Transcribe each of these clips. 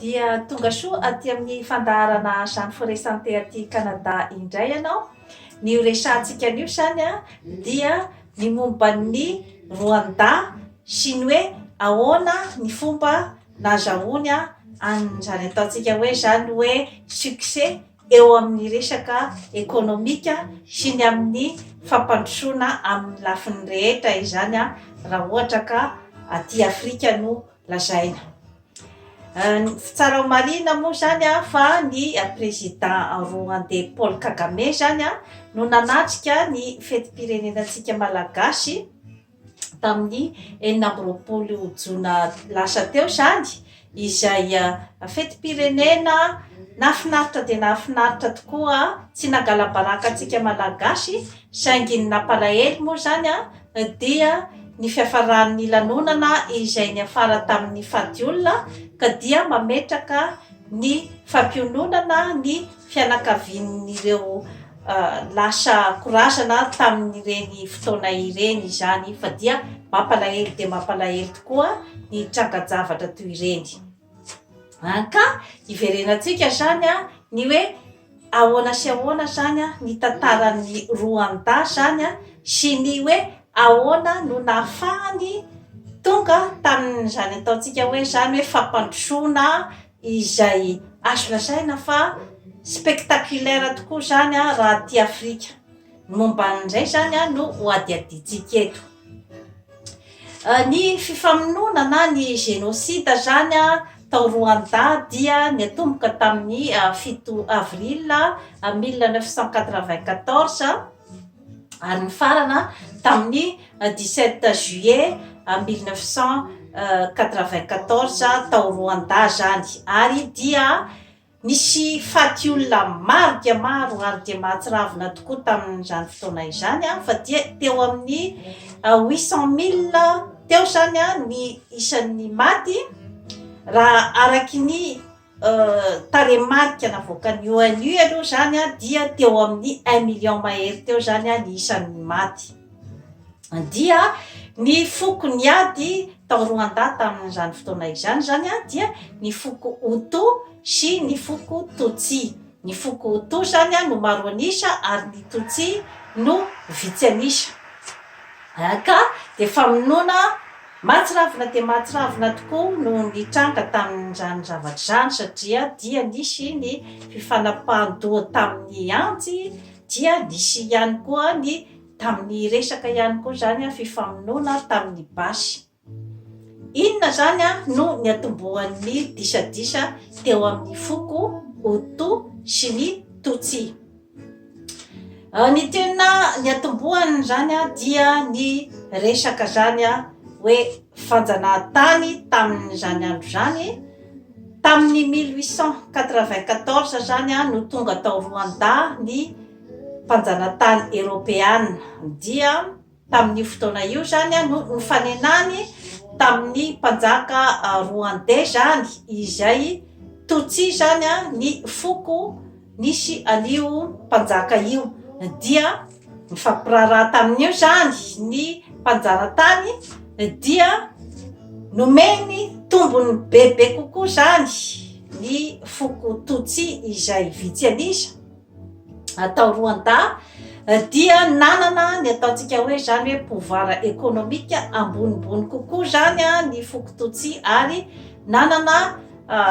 Dia tonga soa aty amin'ny fandaharana Jeanne Foresante aty Canada indray ianao. Ny ho resahantsika anio izany dia ny momba ny Rwanda sy ny hoe ahoana ny fomba nahazahoany an'izany ataontsika hoe izany hoe succès eo amin'ny resaka ekonomika sy ny amin'ny fampandrosoana amin'ny lafiny rehetra izany raha ohatra ka aty Afrika no lazaina Tsy tsara ho marihina moa izany fa ny prezida Roandey Paul Kagame izany no nanatrika ny fetim-pirenenantsika Malagasy tamin'ny enina amby roapolo jona lasa teo izany izay fetim-pirenena nahafinaritra dia nahafinaritra tokoa, tsy nangala-baraka antsika Malagasy Saingy ny nampalahelo moa izany dia ny fiafaran'ny lanonana izay niafara tamin'ny fadiolona ka dia mametraka ny fampiononana ny fianakavian'ireo lasa korazana tamin'ireny fotoana ireny izany fa dia mampalahelo dia mampalahelo tokoa ny tranga-javatra toy ireny. An ka hiverenantsika izany an, ny hoe ahoana sy ahoana izany an, ny tantaran'ny Roanda izany an, sy ny hoe ahoana no nahafahany tonga tamin'izany ataontsika hoe izany hoe fampandrosoana izay azo lazaina fa spectaculaire tokoa izany an raha aty Afrika. Ny momba an'izay izany no hohadihadiantsika eto. Ny fifamonoana na ny génocide izany tao Rwanda dia niatomboka tamin'ny fito avril mille neuf cent quatre-vingt-quatorze ary nifarana tamin'ny dix-sept juillet mille neuf cent quatre-vingt-quatorze tao Rwanda izany ary dia Nisy faty olona maro dia maro ary dia mahatsiravina tokoa tamin'izany fotoana izany fa dia teo amin'ny huit cent mille teo izany ny isan'ny maty raha araky ny tarehimarika navoakan'ny ONU aloha izany dia teo amin'ny un million mahery teo izany ny isan'ny maty. Dia ny foko niady tao Rwanda tamin'izany fotoana izany izany dia ny foko Hutu sy ny foko Tutsi. Ny foko Hutu izany no maro an'isa ary ny Tutsi no vitsy an'isa. Ka dia famonoana mahatsiravina dia mahatsiravina tokoa no nitranga tamin'izany zavatra izany satria dia nisy ny fifanapahan-doha tamin'ny antsy Dia nisy ihany koa ny tamin'ny resaka ihany koa izany fifamonoana tamin'ny basy. Inona izany no niatombohan'ny disadisa teo amin'ny foko Hutu sy ny Tutsi? Ny tena niatombohany izany dia ny resaka izany hoe fanjanahantany tamin'izany andro izany. Tamin'ny mille huit cent quatre-vingt-quatorze izany no tonga tao Rwanda ny mpanjanatany eropeana, dia tamin'io fotoana io izany no nifanenany tamin'ny mpanjaka rwandais izany, izay Tutsi izany ny foko. Nisy an'io mpanjaka io dia mifampiraharaha tamin'io izany ny mpanjara-tany dia nomeny tombony bebe kokoa izany ny foko Tutsi izay vitsy an'isa atao Rwanda dia nanana ny ataontsika hoe izany hoe pouvoir économique ambonimbony kokoa izany ny foko Tutsi ary nanana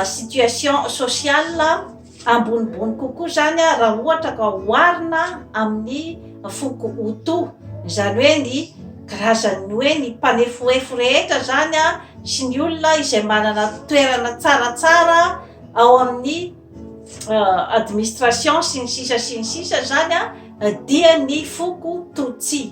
situation sociale Ambonimbony kokoa izany raha ohatra ka oharina amin'ny foko Hutu, izany hoe ny karazan'ny hoe ny mpanefoefo rehetra izany sy ny olona izay manana toerana tsaratsara ao amin'ny administration sy ny sisa sy ny sisa izany dia ny foko Tutsi.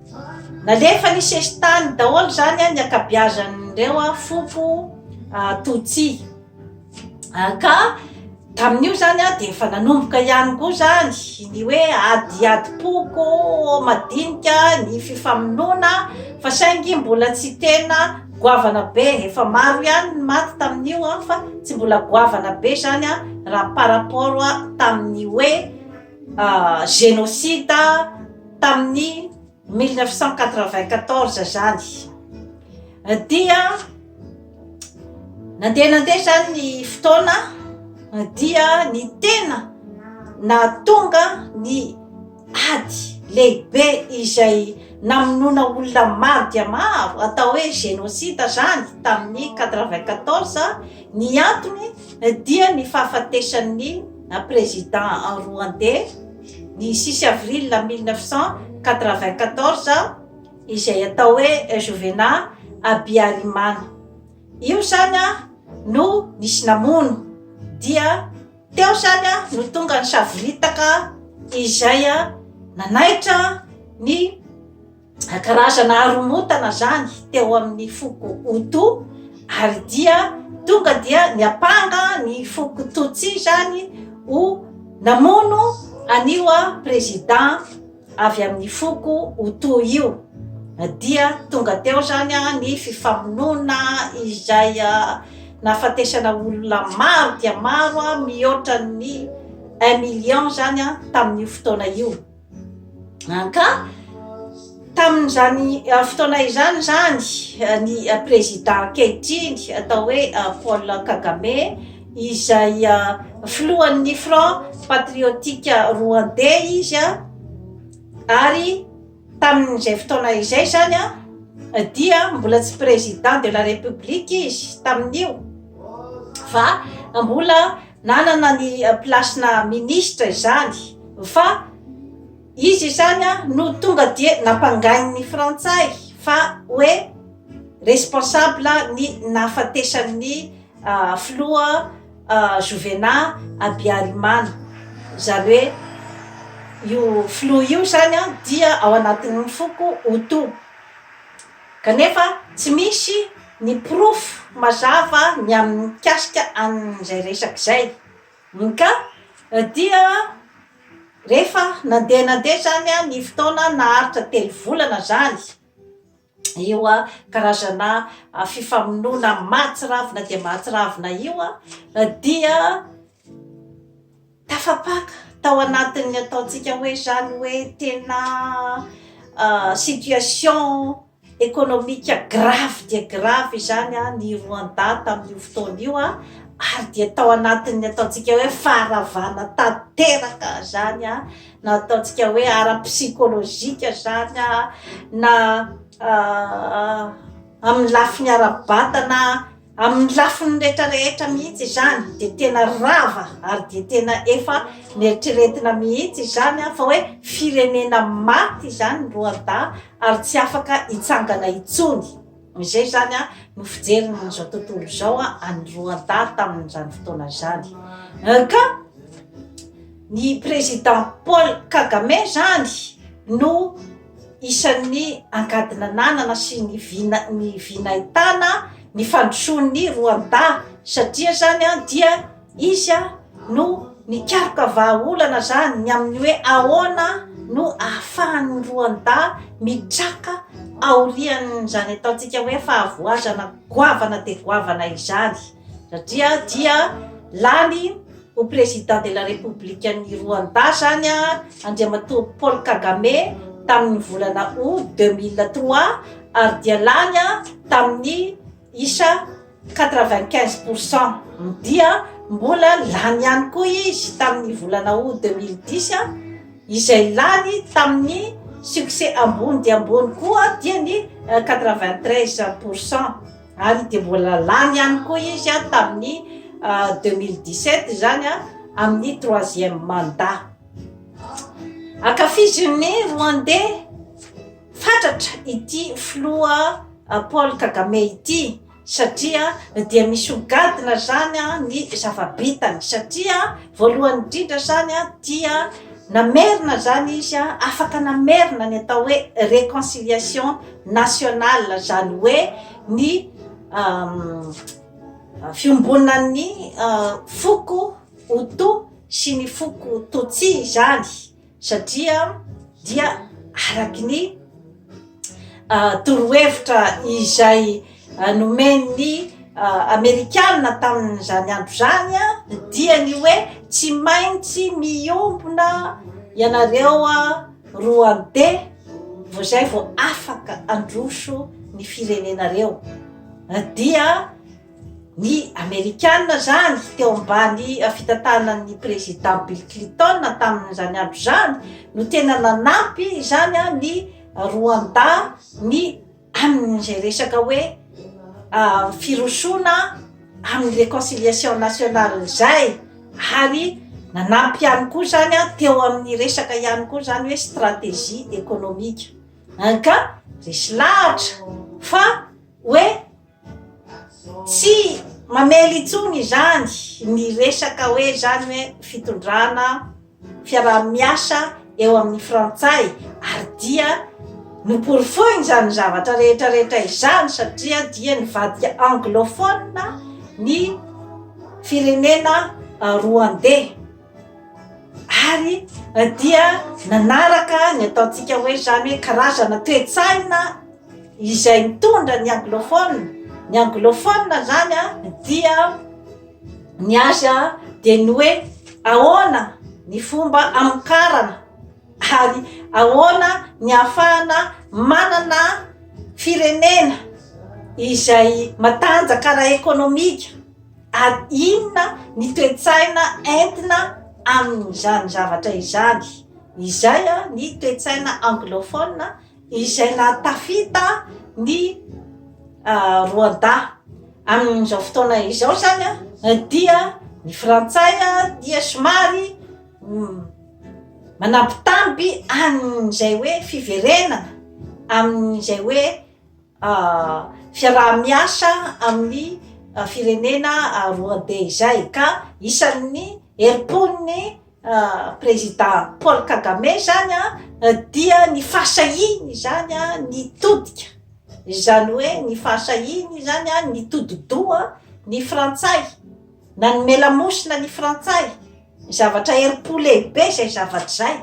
Nalefa ny sesitany daholo zany ny akabiazan'ireo foko Tutsi. Ka tamin'io zany dia efa nanomboka ihany koa zany ny hoe ady adim-poko madinika, ny fifamonoana fa saingy mbola tsy tena goavana be. Efa maro ihany ny maty tamin'io fa tsy mbola goavana be zany raha par rapport tamin'ny hoe. genocide tamin'ny mille neuf cent quatre-vingt-quatorze zany dia nandeha nandeha zany ny fotoana dia ny tena nahatonga ny ady lehibe izay namonoana olona maro dia maro atao hoe genocide zany tamin'ny quatre-vingt-quatorze Ny antony dia ny fahafatesan'ny prezida Rwandey ny sisy avril mille neuf cent quatre-vingt-quatorze izay atao hoe Jovena Abiarimana. Io izany no nisy namono dia teo izany no tonga ny savoritaka izay nanaitra ny karazana haromontana zany teo amin'ny foko Hutu ary dia tonga dia niampanga ny foko Tutsi zany ho namono an'io président avy amin'ny foko Hutu io dia tonga teo zany ny fifamonoana izay nahafatesana olona maro dia maro mihoatra ny un million zany tamin'io fotoana io. Ah, ka tamin'izany ah, fotoana izany izany ah, ny ah, prezida ankehitriny atao hoe ah, Paul Kagame izay ah, filohan'ny Front Patriotique Rwandais izy ah, ary tamin'izay fotoana izay izany ah, dia mbola tsy président de la république izy tamin'io fa mbola Nanana ny place-na ministre izany fa izy izany no tonga dia nampangain'ny frantsay fa hoe responsable ny nahafatesan'ny filoha Jovena Abiarimana. Izany hoe io filoha io izany dia ao anatin'ny foko Hutu. Kanefa tsy misy ny porofo mazava ny amin'ny mikasika an'izay resaka izay. MK, Dia rehefa nandeha nandeha izany ny fotoana, naharitra telo volana izany io karazana fifamonoana mahatsiravina dia mahatsiravina io dia, Tafapaka tao anatin'ny ataontsika hoe izany hoe tena situation économique grave dia grave izany ny Rwanda tamin'io fotoana io ary dia tao anatin'ny ataontsika hoe faharavana tanteraka izany na ataontsika hoe ara psychologique izany na amin'ny lafiny ara-batana Amin'ny lafiny rehetra rehetra mihitsy izany dia tena rava ary dia tena efa neritreretina mihitsy izany aho fa hoe firenena maty izany ny Rwanda ary tsy afaka hitsangana intsony. Izay izany an, no fijeriny amin'izao tontolo izao an, an'i Rwanda tamin'izany fotoana izany. Euh, ka ny président Paul Kagame izany no Isan'ny angady nananana sy ny vina ny vinahitana ny fandrosoan'ny Rwanda satria zany dia izy no nikaroka vahaolana zany ny amin'ny hoe ahoana no ahafahan'ny Rwanda mitraka aorian'izany ataontsika hoe fahavoazana goavana dia goavana izany. satria dia lany ho président de la république an'i Rwanda zany a Andriamatoa Paul Kagame tamin'ny volana août 2003 ary dia lany a tamin'ny isa 95 pour cent dia mbola lany ihany koa izy tamin'ny volana août 2010 a izay lany tamin'ny succès ambony dia ambony koa dia ny 93 pour cent ary dia mbola lany ihany koa izy an tamin'ny 2017 izany an amin'ny troisième mandat ankafizin'ny rwandais fatratra ity filoha paul kagame ity satria dia misy hogadina zany an ny zavabitany satria voalohany indrindra zany an dia namerina zany izy an afaka namerina ny atao hoe réconciliation national zany hoe ny fiombonan'ny foko hoto sy ny foko totsy zany satria dia araky ny torohevitra izay nomen'ny amerikana tamin'izany andro zany an dia ny hoe tsy maintsy miombona ianareo an Rwandais vao zay vao afaka androso ny firenenareo dia ny amerikana zany teo ambany fitantanan'ny président Bill Clinton tamin'izany andro zany no tena nanampy izany ny Rwanda ny amin'izay resaka hoe firosoana amin'ny reconciliation nationale izay ary nanampy ihany koa izany an teo amin'ny resaka ihany koa izany hoe stratégie économique ka resy lahatra fa hoe Tsy mamely intsony izany ny resaka hoe izany hoe fitondrana fiaraha-miasa eo amin'ny frantsay ary dia noporofoiny izany zavatra rehetra rehetra izany satria dia nivadika anglophone ny firenena rwandais. ary dia nanaraka ny ataontsika hoe izany hoe karazana toe-tsaina izay mitondra ny anglophone ny anglophone izany a dia ny azy a dia ny hoe ahoana ny fomba hamokarana ary ahoana ny hahafahana manana firenena izay matanjaka ara-ekonomika Ary inona ny toe-tsaina entina amin'izany zavatra izany? Izay ny toe-tsaina anglophone izay nahatafita ny Rwanda. Amin'izao fotoana izao izany dia ny frantsay dia somary manambitamby an'izay hoe fiverenana amin'izay hoe fiaraha-miasa amin'ny firenena Rwandey izay ka isan'ny herim-pon'ny prezida Paul Kagame izany dia ny fahasahiany izany nitodika, izany hoe ny fahasahiany izany nitodi-doha ny frantsay, nanome lamosina ny frantsay, zavatra herim-po lehibe izay zavatra izay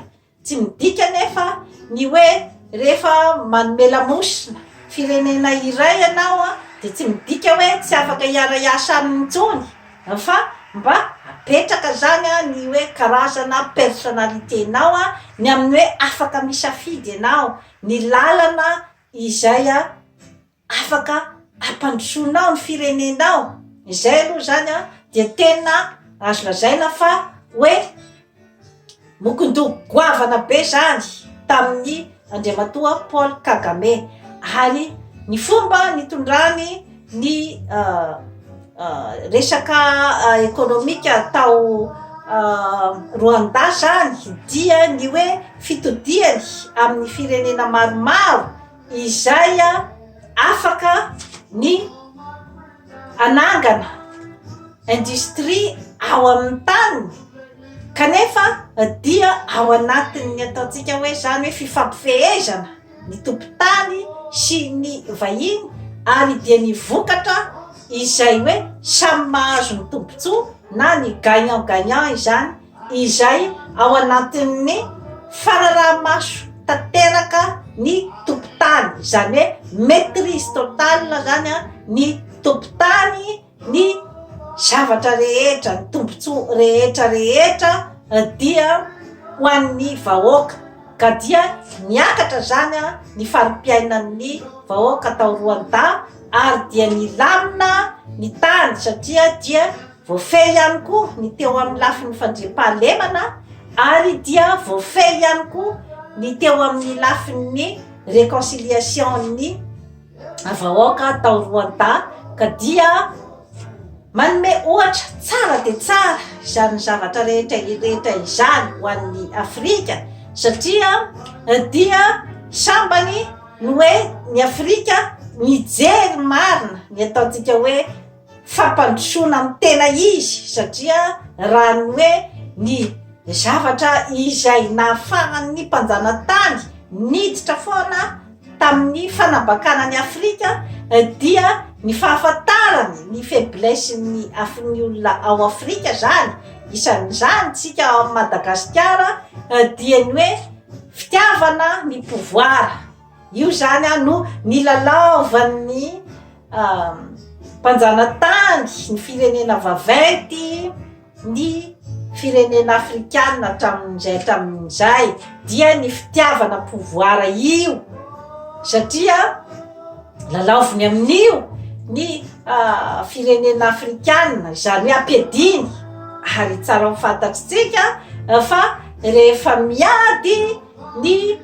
Tsy midika anefa ny hoe rehefa manome lamosina firenena iray ianao dia tsy midika hoe tsy afaka hiara-hiasa aminy intsony fa mba apetraka izany ny hoe karazana personnalite-nao ny amin'ny hoe afaka misafidy ianao ny lalana izay afaka hampandrosoanao ny firenenao, izay aloha izany an dia tena azo lazaina fa hoe mokondoha goavana be izany tamin'ny Andriamatoa Paul Kagame ary ny fomba nitondrany ny resaka ekonomika tao Rwanda izany dia ny hoe fitodihany amin'ny firenena maromaro izay afaka ny hanangana industrie ao amin'ny taniny kanefa dia ao anatin'ny ataontsika hoe izany hoe fifampifehezana ny tompon-tany sy ny vahiny ary dia ny vokatra izay hoe samy mahazo ny tombon-tsoa na ny gagnant gagnant izany izay ao anatin'ny fanaraha-maso tanteraka ny tompon-tany, izany hoe maitrise totale izany an, ny tompon-tany ny zavatra rehetra, ny tombontsoa rehetra rehetra dia ho an'ny vahoaka, ka dia niakatra izany an ny fari-piainan'ny vahoaka tao Rwanda ary dia nilamina ny tany satria dia Voafehy ihany koa ny teo amin'ny lafiny fandriampahalemana ary dia voafehy ihany koa ny teo amin'ny lafin'ny réconciliation-n'ny vahoaka tao Rwanda ka dia manome ohatra tsara dia tsara izany zavatra rehetra rehetra izany ho an'ny Afrika satria dia sambany ny hoe ny Afrika mijery marina ny ataontsika hoe fampandrosoana ny tena izy satria raha ny hoe ny zavatra izay nahafahan'ny mpanjanatany niditra foana tamin'ny fanambakana an'i Afrika dia ny fahafantarany ny faiblessen'ny afon'ny olona ao Afrika izany, isan'izany tsika ao Madagasikara dia ny hoe fitiavana ny pouvoir. Io zany a no nilalaovan'ny mpanjanatany ny firenena vaventy ny firenena afrikana hatramin'izay hatramin'izay dia ny fitiavana pouvoir io satria lalaoviny amin'io ny firenena afrikana izany ampiadiny ary tsara ho fantatritsika fa rehefa miady Ny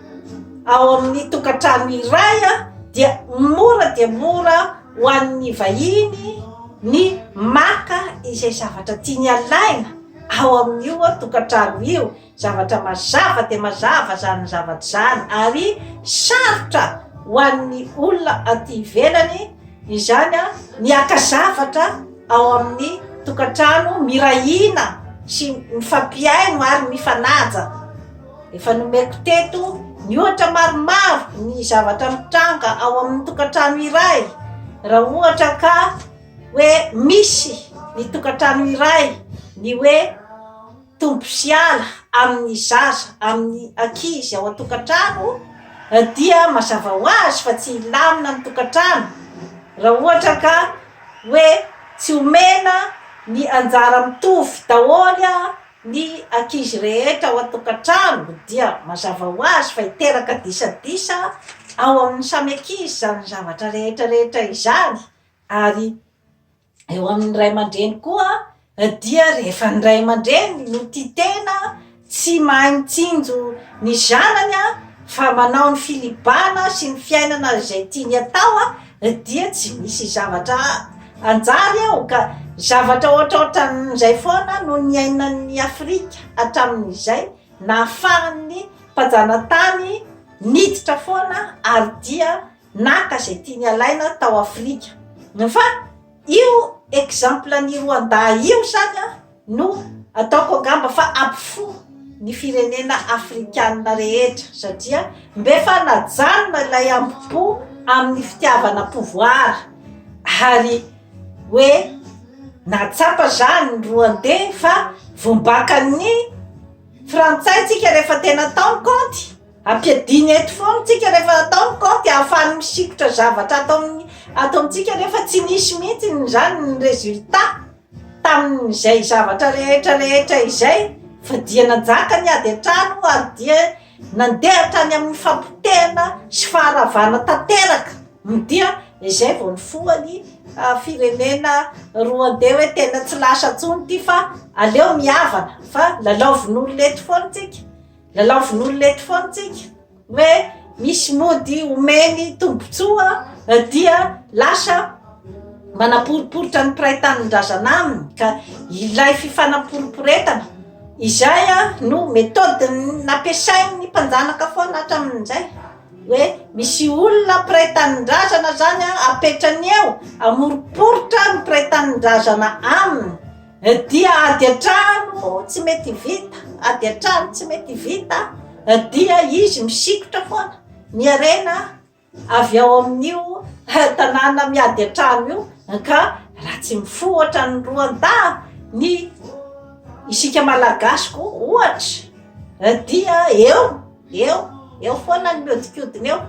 ao amin'ny tokantrano iray dia mora dia mora ho an'ny vahiny ny maka izay zavatra tiany alaina ao amin'io tokantrano io, zavatra mazava dia mazava izany zavatra izany ary sarotra ho an'ny olona aty ivelany izany ny haka zavatra ao amin'ny tokantrano, mirahiana sy mifampihaino ary mifanaja. Efa nomeko teto ny ohatra maromaro ny zavatra mitranga ao amin'ny tokantrano iray raha ohatra ka hoe misy ny tokantrano iray ny hoe tombo sy ala amin'ny zaza amin'ny ankizy ao an-tokantrano dia mazava ho azy fa tsy hilamina ny tokantrano raha ohatra ka hoe tsy omena ny anjara mitovy daholo Ny ankizy rehetra ao an-tokantrano dia mazava ho azy fa hiteraka disadisa ao amin'ny samy ankizy izany zavatra rehetra rehetra izany ary eo amin'ny ray aman-dreny koa dia rehefa ny ray aman-dreny no tia tena tsy mahay mitsinjo ny zanany fa manao ny filibana sy ny fiainana izay tiany atao dia tsy misy zavatra hanjary ao ka zavatra ohatraohatran'izay foana no niainan'ny Afrika hatramin'izay nahafahan'ny mpanjanatany niditra foana ary dia naka izay tiany alaina tao Afrika fa io exemple-n'i Rwanda io izany No ataoko angamba fa ampifoha ny firenena afrikana rehetra satria mbe fanajanona ilay ambo-po amin'ny fitiavana pouvoir ary hoe nahatsapa izany ny Rwandais fa vombakan'ny frantsay tsika rehefa tena atao ny kaonty, ampiadiany eto foana tsika rehefa atao ny kaonty ahafahany misikotra zavatra ato amin'ny ato amintsika nefa tsy nisy mihitsy izany ny résultat. Tamin'izay zavatra rehetra rehetra izay, dia nanjaka ny ady an-trano ary dia nandeha hatrany amin'ny fampotehana sy faharavana tanteraka, dia izay vao nifoha ny firenena Rwandey hoe tena tsy lasa intsony ity fa aleo mihavana fa lalaovin'olona eto foana tsika, lalaovin'olona eto foana tsika. hoe misy mody omeny tombontsoa dia lasa manaporoporitra ny mpiray tanindrazana aminy ka ilay fifanaporoporetana izay no méthode nampiasain'ny mpanjanaka foana hatramin'izay hoe misy olona mpiray tanindrazana zany apetrany eo hamoroporitra ny mpiray tanindrazana aminy Dia ady an-trano moa tsy mety vita, ady an-trano tsy mety vita dia izy misikotra foana ny harena avy ao amin'io tanàna miady an-trano io ka raha tsy mifohatra ny roan-dahy ny isika malagasy koa ohatra dia eo Eo, eo foana ny miodikodina eo.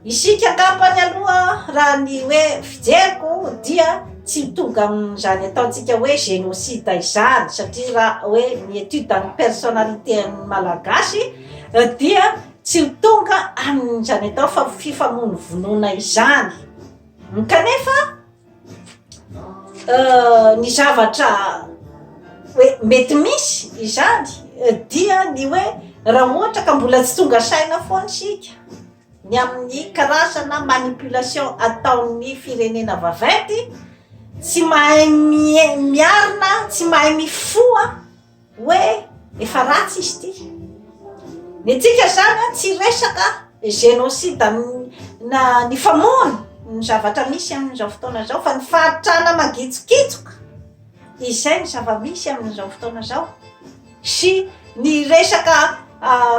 Isika angambany aloha raha ny hoe fijeriko dia tsy mitovy amin'izany ataontsika hoe génocide izany satria raha hoe ny étude ny personnalité an'ny Malagasy dia tsy tonga amin'izany atao fa fifamonovonoana izany kanefa Ny zavatra hoe mety misy izany dia ny hoe raha ohatra ka mbola tsy tonga saina foana isika ny amin'ny karazana manipulation ataon'ny firenena vaventy tsy mahay mie- miarina tsy mahay mifoha hoe efa ratsy izy ity. Ny antsika izany tsy resaka génocide na ny famono ny zavatra misy amin'izao fotoana izao fa ny fahantrana mangitsokitsoka izay ny zava-misy amin'izao fotoana izao sy ny resaka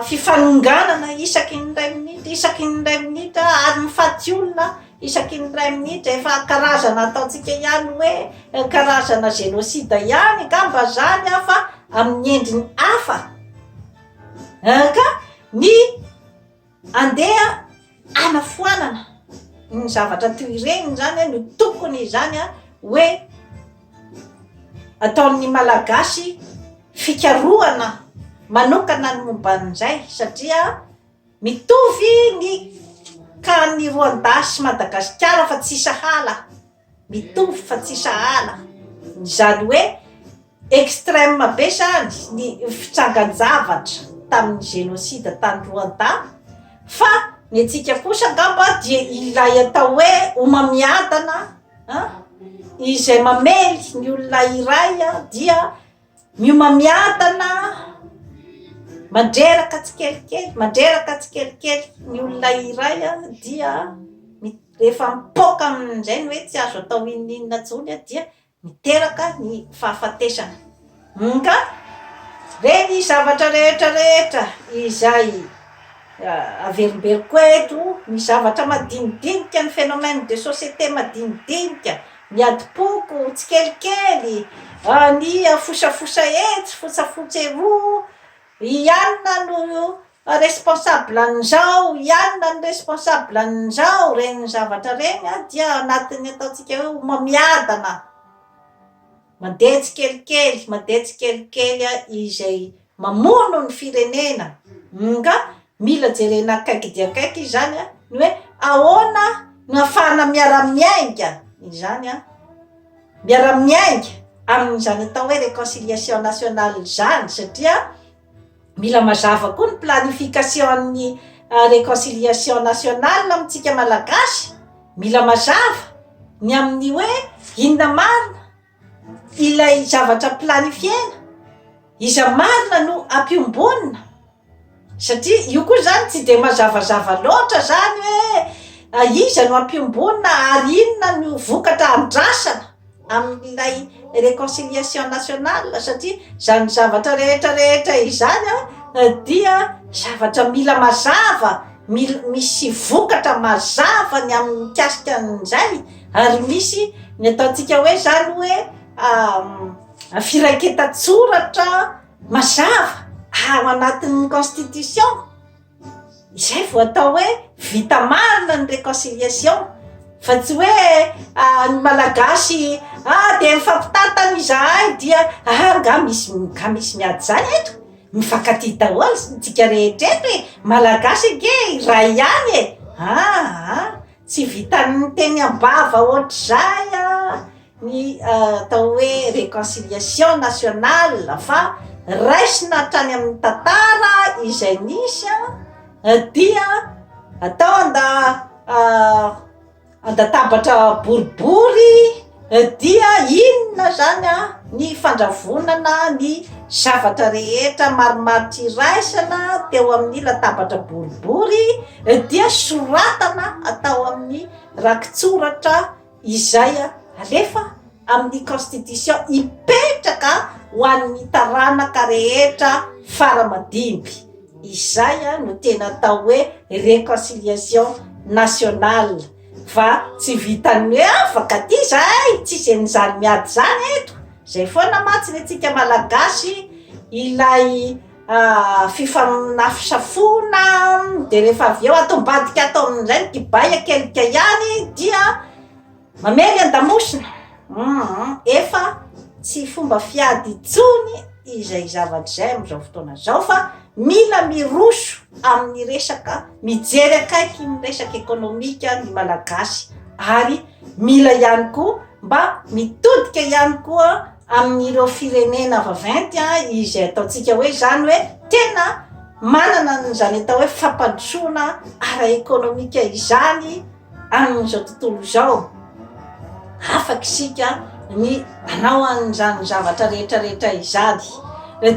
fifanonganana isaky ny iray minitra isaky ny iray minitra ary ny faty olona Isaky ny iray minitra efa karazana ataontsika ihany hoe karazana génocide ihany angamba zany an fa amin'ny endriny hafa an ka ny andeha hanafoanana ny zavatra toy ireny zany an no tokony izany an hoe ataon'ny malagasy fikarohana manokana ny momba an'izay satria Mitovy ny Can ny Rwanda sy Madagasikara fa tsy sahala, mitovy fa tsy sahala, izany hoe extreme be zany ny fitsangan-javatra tamin'ny génocide tany Rwanda fa ny antsika kosa angamba dia ilay atao hoe homamiadana an, izay mamely ny olona iray dia Miomamiadana mandreraka tsikelikely, mandreraka tsikelikely ny olona iray dia rehefa mipoaka aminy indray ny hoe tsy azo atao inona inona intsony dia miteraka ny fahafatesana. Ka ve ny zavatra rehetra rehetra izay averimberiko eto, ny zavatra madinidinika, ny phénomène de société madinidinika, Miadim-poko, tsikelikely, vaniha, fosafosa etsy, fosafotsy eroa, ianona no responsable an'izao, ianona no responsable an'izao, ireny zavatra ireny dia anatin'ny ataontsika hoe homamiadana. Mandeha tsikelikely, mandeha tsikelikely izay mamono ny firenena. Nga mila jerena akaiky dia akaiky izany ny hoe ahoana no ahafahana miara-miainga izany, miara-miainga amin'izany atao hoe réconciliation nationale izany satria. mila mazava koa ny planification ny euh, reconciliation nationale amintsika malagasy mila mazava ny amin'ny hoe inona marina ilay zavatra planifiena iza marina no ampiombonina satria io koa zany tsy de mazavazava loatra zany hoe ah, iza no ampiombonina ary inona no vokatra andrasana amin'ilay reconciliation nationale satria izany zavatra rehetra rehetra izany an dia zavatra mila mazava mila misy vokatra mazava ny amin'ny mikasika an'izay ary misy ny ataontsika hoe izany hoe firaiketan-tsoratra mazava ao anatin'ny constitution Izay vao atao hoe vita marina ny reconciliation fa tsy hoe ny malagasy a dia mifampitantana izahay dia aa nga misy nga misy miady izany eto? mifankatia daholo isika rehetra eto e! malagasy ange iray ihany e! aa tsy vitan'ny teny am-bava ohatr'izay an! ny atao hoe reconciliation nationale fa raisina hatrany amin'ny tantara izay nisy dia atao anda andatabatra boribory dia inona zany ny fandravonana ny zavatra rehetra maromaro tsy iraisana teo amin'ny latabatra boribory dia soratana atao amin'ny rakitsoratra izay alefa amin'ny constitution hipetraka ho an'ny taranaka rehetra fara madimby, izay no tena atao hoe reconciliation nationale fa tsy vitan'ny hoe afaka aty izahay tsisy an'izany miady izany eto, izay foana mantsy ny antsika malagasy ilay fifanafisafoana dia rehefa avy eo ato ambadika ato amin'izay ny kibay akelika ihany dia mamely an-damosina uum efa tsy fomba fiady intsony izay zavatra izay amin'izao fotoana izao fa mila miroso amin'ny resaka mijery akaiky ny resaka ekonomika ny malagasy ary mila ihany koa mba mitodika ihany koa amin'ireo firenena vaventy izay ataontsika hoe izany hoe tena manana an'izany atao hoe fampandrosoana ara-ekonomika izany amin'izao tontolo izao. Afaka isika ny hanao an'izany zavatra rehetra rehetra izany.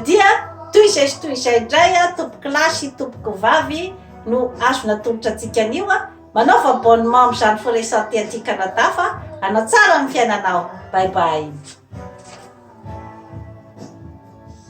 Dia toy izay sy toy izay indray tompon-kilasy, tompokovavy no azo natolotra antsika anio. Manaova abonnement amin'izany firesante aty Canada fa hanatsara ny fiainanao. Bye bye.